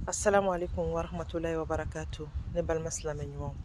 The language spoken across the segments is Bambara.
assalamu alaikum wa rahmatulahi wa barakatu ne balima silamɛ ɲumanw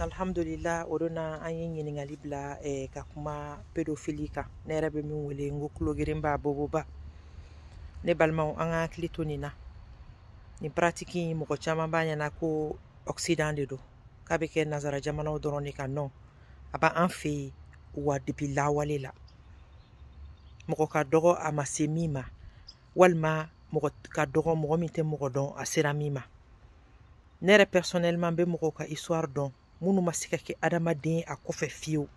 alhamdulila o don na an ye ɲininkali bila eh, ka kuma pedofili kan ne yɛrɛ bɛ min wele n ko kulogeren b'a boboba ne balimaw an ka hakili to nin na nin paratiki in mɔgɔ caman b'a ɲɛna ko ɔksidan de don k'a bɛ kɛ nazara jamanaw dɔrɔn de kan non a b'a an fɛ yen wa depi lawale la mɔgɔ ka dɔgɔ a ma se min ma walima mɔgɔ ka dɔgɔ mɔgɔ min tɛ mɔgɔ dɔn a sera min ma ne yɛrɛ personnellement bɛ mɔgɔw ka histoire dɔn minnu ma se ka kɛ adamaden a kɔfɛ fiyewu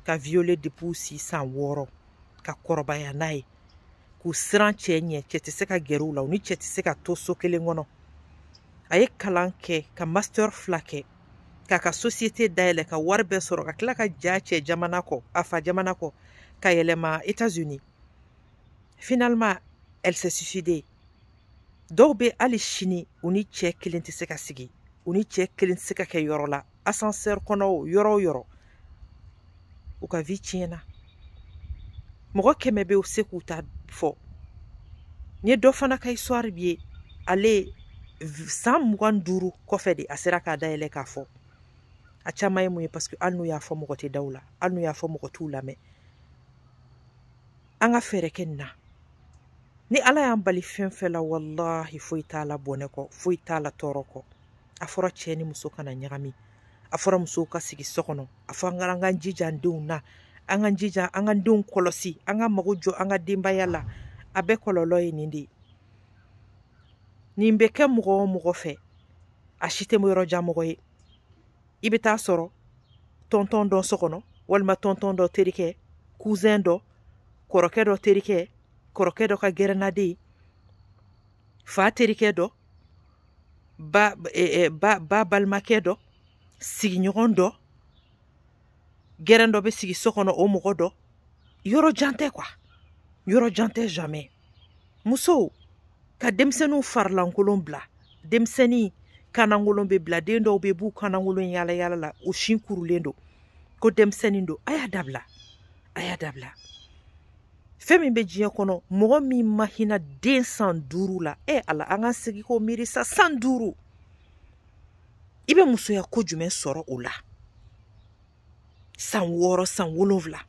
ka violer depuis si san wɔɔrɔ ka kɔrɔbaya n'a ye k'u siran cɛ ɲɛ cɛ tɛ se ka gɛrɛ u la u ni cɛ tɛ se ka to so kelen kɔnɔ a ye kalan kɛ ka master fila kɛ k'a ka société dayɛlɛ ka wari bɛɛ sɔrɔ ka tila ka j'a cɛ jamana kɔ a fa jamana kɔ ka yɛlɛma États-Unis finalement elle s'est suicidée dɔw bɛ hali sini u ni cɛ kelen tɛ se ka sigi u ni cɛ kelen tɛ se ka kɛ yɔrɔ la ascenseur kɔnɔ o yɔrɔ o yɔrɔ u ka vie tiɲɛna mɔgɔ kɛmɛ bɛ se k'u ta fɔ n ye dɔ fana ka histoire bɛ yen ale san mugan duuru kɔfɛ de a sera k'a dayɛlɛ k'a fɔ a caman ye mun ye paseke hali n'u y'a fɔ mɔgɔ tɛ da u la hali n'u y'a fɔ mɔgɔ t'u lamɛn an ka fɛɛrɛ kɛ nin na ni ala y'an bali fɛn fɛn la walahi foyi t'a la bɔnɛ kɔ foyi t'a la tɔɔrɔ kɔ a fɔra cɛ ni muso kana ɲagami a fɔra musow ka sigi so kɔnɔ a fɔ an ka an ka jija an denw na an ka jija an ka denw kɔlɔsi an ka mago jɔ an ka denbaya la a bɛɛ kɔlɔlɔ ye nin de ye nin bɛ kɛ mɔgɔ o mɔgɔ fɛ a si tɛ yɔrɔ jan mɔgɔ ye i bɛ taa sɔrɔ tɔntɔn dɔ so kɔnɔ walima tɔntɔn dɔ terikɛ kuzɛn dɔ kɔrɔkɛ dɔ terikɛ kɔrɔkɛ dɔ ka gɛrɛnnaden fa terikɛ dɔ ba e, e, ba ba balimakɛ dɔ sigiɲɔgɔn dɔ gɛrɛn dɔ bɛ sigi so kɔnɔ o mɔgɔ dɔ yɔrɔ jan tɛ kuwa yɔrɔ jan tɛ jamais musow ka denmisɛnninw farilankolon bila denmisɛnnin kanankolon bɛ bila den dɔw bɛ b'u kanankolon yaala yaala la o sin kurulen don ko denmisɛnnin don a y'a dabila a y'a dabila fɛn min bɛ diɲɛ kɔnɔ mɔgɔ min ma hinɛ den san duuru la e ala an ka sigi k'o miiri sa san duuru i bɛ musoya ko jumɛn sɔrɔ o la san wɔɔrɔ san wolonwula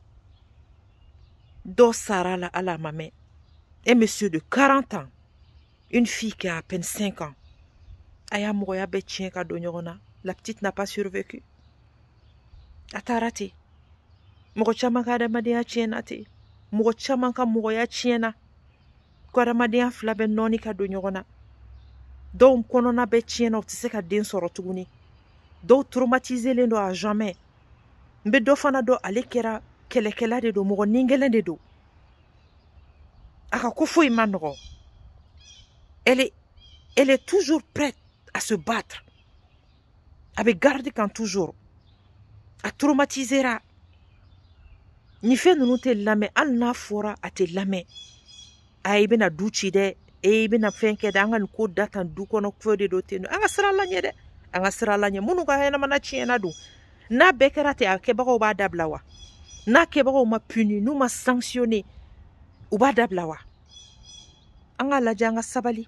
dɔ sara a la a ma mɛn un monsieur de 40 ans une fille qui a à peine 5 ans a y'a mɔgɔya bɛɛ tiɲɛ ka don ɲɔgɔn na la petite n'a pas survécu a taara ten mɔgɔ caman ka adamadenya tiɲɛna ten mɔgɔ caman ka mɔgɔya tiɲɛna ko adamadenya fila bɛ nɔɔni ka don ɲɔgɔn na dɔw kɔnɔna bɛ tiɲɛna u tɛ se ka den sɔrɔ tuguni dɔw traumatiselen don à jamais n bɛ dɔ fana dɔn ale kɛra kɛlɛkɛla de don mɔgɔ nigɛlɛn de don a ka ko foyi ma nɔgɔ elle est, elle est toujours prête à se battre a bɛ garde kan toujours a traumatisera nin fɛn ninnu tɛ lamɛn hali n'a fɔra a tɛ lamɛn a i bɛna du ci dɛ e i bɛna fɛn kɛ dɛ an ka nin ko da tan du kɔnɔ ko de don ten don an ka siran ala ɲɛ dɛ an ka siran ala ɲɛ minnu ka ɲɛnamaya tiɲɛna don n'a bɛɛ kɛra ten a kɛbagaw b'a dabila wa n'a kɛbagaw ma puni n'u ma sanctionner u b'a dabila wa an k'a lajɛ an ka sabali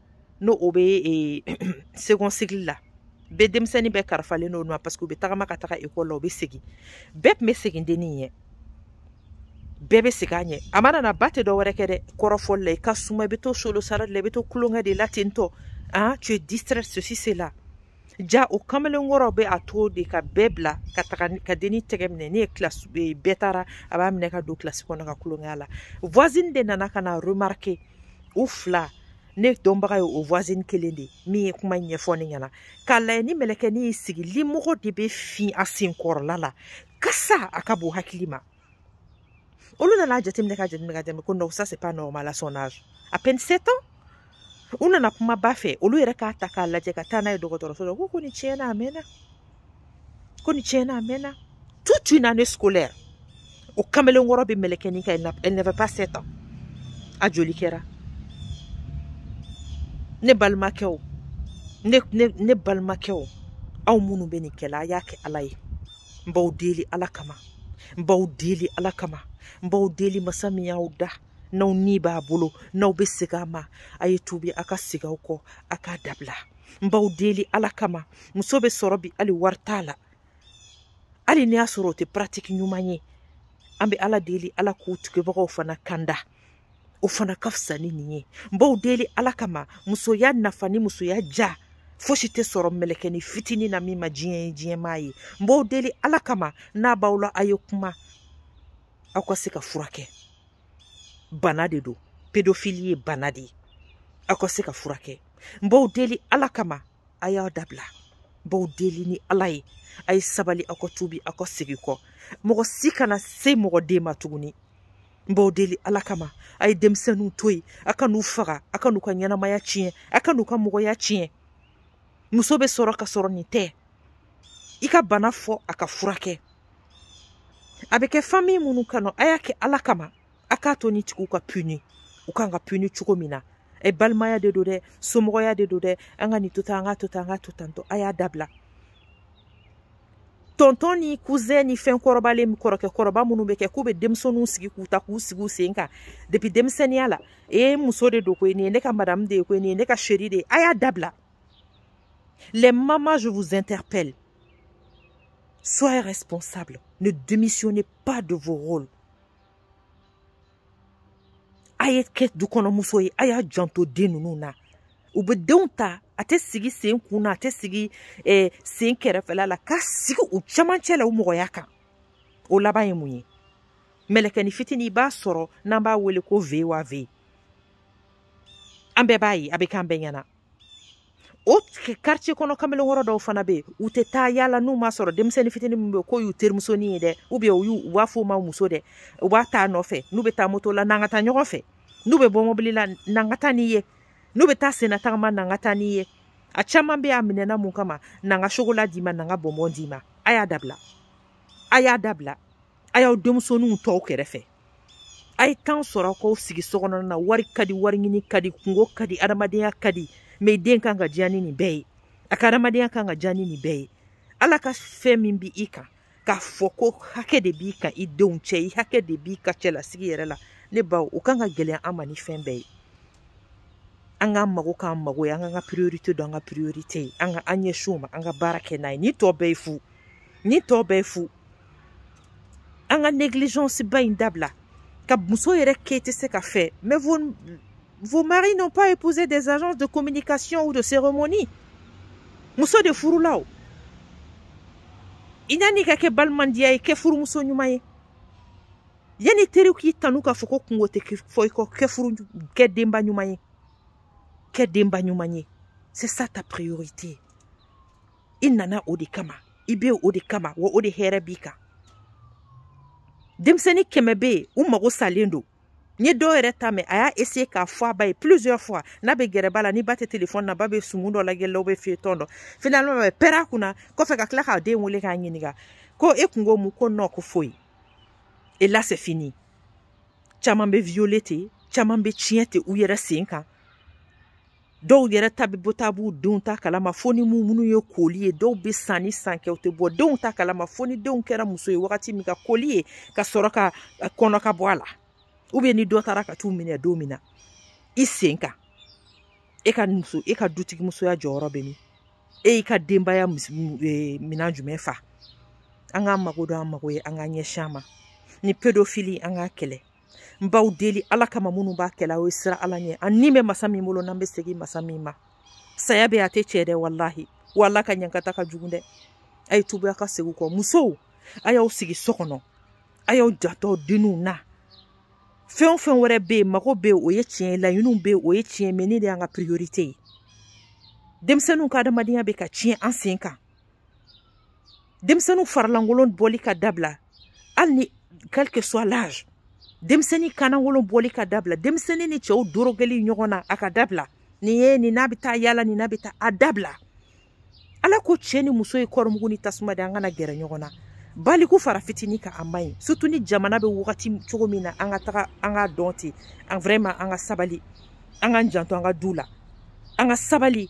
n'o o bɛ second cycle la bɛɛ denmisɛnnin bɛɛ karifalen don o ma parce que u bɛ tagama ka taga école la u bɛ segin bɛɛ tun bɛ segin dennin ɲɛ bɛɛ bɛ segin a ɲɛ a mana na ba tɛ dɔ wɛrɛ kɛ dɛ kɔrɔfɔli la i ka suma i bɛ to solo sara de la i bɛ to kulonkɛ de la ten tɔ ah tu es distraite ceci cela ja o kamalenkɔrɔ bɛ a to de ka bɛɛ bila ka taga ka dennin tɛgɛ minɛ ne ye classe bɛɛ taara a b'a minɛ ka don classe kɔnɔ ka kulonkɛ a la voisine de nana ka na remarquer u fila ne dɔnbaga ye o voisine kelen de min ye kuma ɲɛfɔ ne ɲɛna k'a lajɛ ni mɛlɛkɛni y'i sigi limɔgɔ de bɛ fin a senkɔrɔla la kasa a ka bon hakili ma olu nana jateminɛ ka jateminɛ ka jateminɛ ko non ça c'est pas normal à son âge à peine 7 ans u nana kuma ba fɛ olu yɛrɛ k'a ta k'a lajɛ ka taa n'a ye dɔgɔtɔrɔso la ko ko nin tiɲɛna a mɛnna ko nin tiɲɛna a mɛnna toute une année scolaire o kamalenkɔrɔ bɛ mɛlɛkɛni kan elle n'avait pas 7 ans a joli kɛra ne balimakɛw ne ne ne balimakɛw aw minnu bɛ nin kɛla a y'a kɛ ala ye n b'aw deli ala kama n b'aw deli ala kama n b'aw deli masa min y'aw dan n'aw ni b'a bolo n'aw bɛ segin a ma a ye tubi a ka segin aw kɔ a k'a dabila n b'aw deli ala kama muso bɛ sɔrɔ bi hali wari t'a la hali n'i y'a sɔrɔ o tɛ pratique ɲuman ye an bɛ ala deli ala k'u tugubagaw fana kanda o fana ka fisa ni nin ye n b'aw deli ala kama musoya nafa ni musoya ja fosi tɛ sɔrɔ mɛlɛkɛni fitinin na min ma diɲɛ ye diɲɛ m'a ye n b'aw deli ala kama n'a b'aw la a ye kuma aw ka se ka furakɛ bana de don pédophilie ye bana de ye aw ka se ka furakɛ n b'aw deli ala kama a y'a dabila n b'aw deli ni ala ye a ye sabali aw ka tubi aw ka segin kɔ mɔgɔ si kana se mɔgɔ den ma tuguni n b'aw deli ala kama a ye denmisɛnninw to yen a kan'u faga a kan'u ka ɲɛnamaya tiɲɛ a kan'u ka mɔgɔya tiɲɛ muso bɛ sɔrɔ ka sɔrɔ nin tɛ i ka bana fɔ a ka furakɛ a bɛ kɛ famille minnu kɔnɔ a y'a kɛ ala kama a k'a to nin tigiw ka puni u kan ka puni cogo min na e balimaya de don dɛ somɔgɔya de don dɛ an ka nin to tan an ka to tan an ka to tan tɔ a y'a dabila tonton ni cousin ni fɛn kɔrɔbalen kɔrɔkɛ kɔrɔba minnu bɛ kɛ k'u bɛ denmisɛnninw sigi k'u ta k'u sigi u sen kan depuis denmisɛnninya la ee muso de don koyi nin ye ne ka madame de ye koyi nin ye ne ka chérie de ye a y'a dabila les mamans je vous interpelle soyez responsables ne démissionnez pas de vos rôles a ye kɛ dukɔnɔmuso ye a y'a janto den ninnu na u bɛ denw ta a tɛ sigi sen kun na a tɛ sigi eh, sen kɛrɛfɛla la k'a sigi u cɛmancɛ la u mɔgɔya kan o laban ye mun ye mɛlɛkɛnin fitinin i b'a sɔrɔ n'an b'a wele ko vewa ve an bɛɛ b'a ye a bɛ k'an bɛɛ ɲɛ na o quartier kɔnɔ kamalenkɔrɔ dɔw fana bɛ yen u tɛ taa yala n'u m'a sɔrɔ denmisɛnnin fitinin min bɛ yen k'o y'u terimusonin ye dɛ ou bien u b'a f'o ma muso dɛ u b'a t'a nɔfɛ n'u bɛ taa moto la n'an ka taa ɲɔgɔn fɛ n'u bɛ bɔ mobili la n'an ka taa n'i ye n'u bɛ taa senna tagama n'an ka taa n'i ye a caman bɛ yen a minɛna mun kama n'an ka chocolat d'i ma n'an ka bonbon d'i ma a y'a dabila a y'a dabila a y'aw denmusoninw t'aw kɛrɛfɛ a ye temps sɔrɔ k'aw sigi so kɔnɔna na wari ka di wari ɲini ka di kunko ka di adamadenya ka di mais den kan ka diya ni nin bɛɛ ye a ka adamadenya kan ka diya ni nin bɛɛ ye ala ka fɛn min bɛ i kan k'a fɔ ko hakɛ de b'i kan i denw cɛ i hakɛ de b'i ka cɛlasigi yɛrɛ la ne baw o kan ka gɛlɛya an ma ni fɛn bɛɛ ye an k'an mago k'an mago ye an k'an ka priorité dɔn an ka priorité ye an ka an ɲɛsin o ma an ka baara kɛ n'a ye nin tɔ bɛɛ ye fu nin tɔ bɛɛ fu an ka négligence ba in dabila ka muso yɛrɛ kɛ tɛ se ka fɛ mais vos, vos maris n'ont pas épousé des agences de communication ou de cérémonie muso de furula o i ɲani ka kɛ balimandiya ye kɛ furumuso ɲuman ye yanni teriw k'i tanu k'a fɔ ko kunko tɛ fɔ i kɔ kɛ furu kɛ denba ɲuman ye kɛ denba ɲuman ye c'est ça ta priorité i nana o de kama i bɛ o de kama wa o de hɛrɛ b'i kan denmisɛnnin kɛmɛ bɛ yen u mago salen don n ye dɔw yɛrɛ ta mɛn a y'a essayer k'a fɔ a ba ye plusieurs fois n'a bɛ gɛrɛ ba la ni ba tɛ téléphone na ba bɛ sumu dɔ lajɛ la o bɛ feuilleton dɔ finalement a bɛ pɛrɛn a kunna kɔfɛ ka tila k'a den wele k'a ɲininka ko e kun ko mun ko non ko foyi et là c'est fini caman bɛ violer ten caman bɛ tiɲɛ ten u yɛrɛ sen kan dɔw yɛrɛ ta bɛ bɔ taa b'u denw ta kalama fo ni minnu ye koli ye dɔw bɛ san ni san kɛ u tɛ bɔ denw ta kalama fo ni denw kɛra muso ye wagati min ka koli ye ka sɔrɔ ka kɔnɔ ka bɔ a la ou bien ni dɔ taara ka t'u minɛ don min na i sen kan e ka muso e ka dutigi musoya jɔyɔrɔ bɛ min e y'i ka denbaya e, minan jumɛn fa an k'an mago don an mago ye an k'an ɲɛsin a ma nin pédophilie an k'a kɛlɛ n b'aw deli ala kama minnu b'a kɛla a ye siran ala ɲɛ a ni bɛ masa min bolo n'an bɛ segin masa min ma saya bɛ a tɛ tiɲɛ dɛ walahi wa ala ka ɲankata ka jugu dɛ a ye tuubi a ka segin kɔ musow a y'aw sigi so kɔnɔ a y'aw janto denninw na fɛn o fɛn wɛrɛ bɛ yen mago bɛ yen o ye tiɲɛ ye laɲiniw bɛ yen o ye tiɲɛ ye mais nin de y'an ka priorité ye denmisɛnninw ka adamadenya bɛ ka tiɲɛ an sen kan denmisɛnninw faralankolon bɔli ka dabila hali ni quel que soit l'âge denmisɛnnin kanankolon bɔli ka dabila denmisɛnnin ni cɛw dorogoli ɲɔgɔn na a ka dabila nin ye nin n'a bɛ taa yaala nin n'a bɛ taa a dabila ala ko cɛ ni muso ye kɔɔrimugu ni tasuma de an kana gɛrɛ ɲɔgɔn na baliku fara fitini kan a man ɲi surtout ni jamana bɛ wagati cogo min na an ka taga an ka dɔn ten an vraiment an ka sabali an k'an janto an ka du la an ka sabali